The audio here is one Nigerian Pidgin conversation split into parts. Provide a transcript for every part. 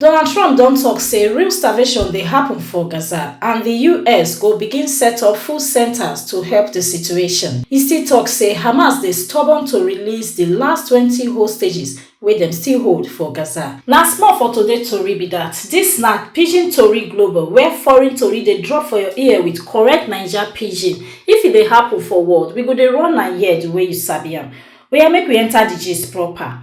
Donald Trump don tok say real starvation dey happun for Gaza and di us go begin set up food centres to help di situation. E still tok say Hamas dey stubborn to release di last twenty hostages wey dem still hold for Gaza. Na small for today tori be dat, dis na Pidgin Tori Global where foreign tori dey drop for your ear with correct Naija Pidgin. If e dey happun for world, we go dey run am here di way you sabi am. Oya make we enter di gist proper.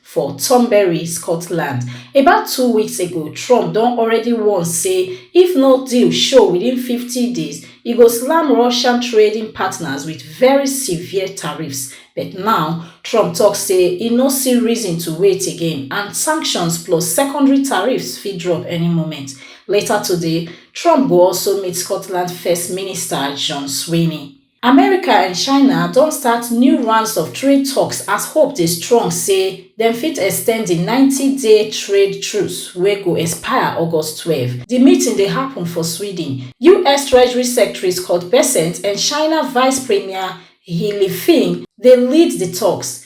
for turnberry scotland about two weeks ago trump don already warn say if no deal show within 50 days e go slam russian trading partners wit very severe tariffs but now trump tok say e no see reason to wait again and sanctions plus secondary tariffs fit drop any moment later today trump go also meet scotland first minister john swinney America and China don start new rounds of trade talks as hope dey strong say dem fit extend di 90-day trade truce wey go expire August twelve. Di meeting dey happun for Sweden, us Treasury Secretary Scott Bessent and China Vice Premier He Lifeng dey lead di talks.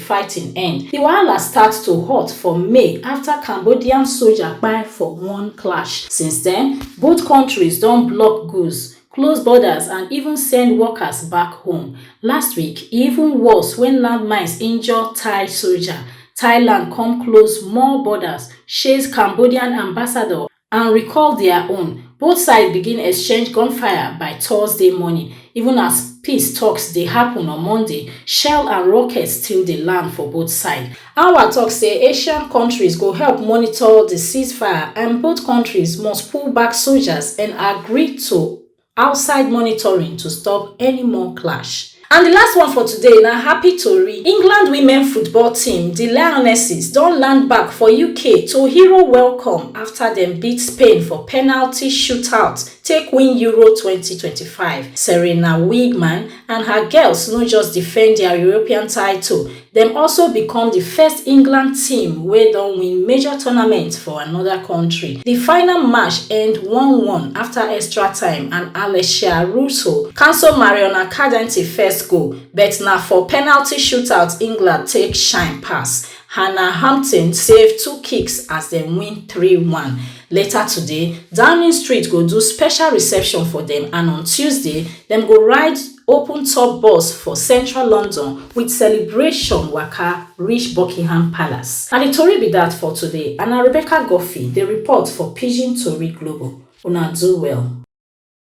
fighting end. Di wahala start to hot for May afta Cambodian soja kpai for one clash. Since den, both kontris don block goods, close borders and even send workers back home. Last week, e even worse wen landmines injure Thai soja. Thailand come close more borders, chase Cambodian ambassador and recall dia own both sides begin exchange gunfire by thursday morning even as peace toks dey happun on monday shell and rockets still dey land for both sides anwar tok say asian kontris go help monitor di ceasefire and both kontris must pull back soldiers and agree to outside monitoring to stop any more clash. And the last one for today na happy tori. England women football team, the Lionesses, don land back for UK to hero welcome after dem beat Spain for penalty shootout take win Euro 2025. Serena Wigman and her girls no just defend their European title, Dem also become di first England team wey don win major tournament for anoda kontri. Di final match end one one afta extra time and Alessia Russo cancel Mariona Cadenti first goal but na for penalty shootout England take shine pass. Hannah Hampton save two kicks as dem win three one. Later today, Downing Street go do special reception for dem and on Tuesday, dem go ride. open tour bus for central london wit celebration waka reach buckingham palace na di tori be dat for today and na rebecca guffey dey report for pidgin tori global una do well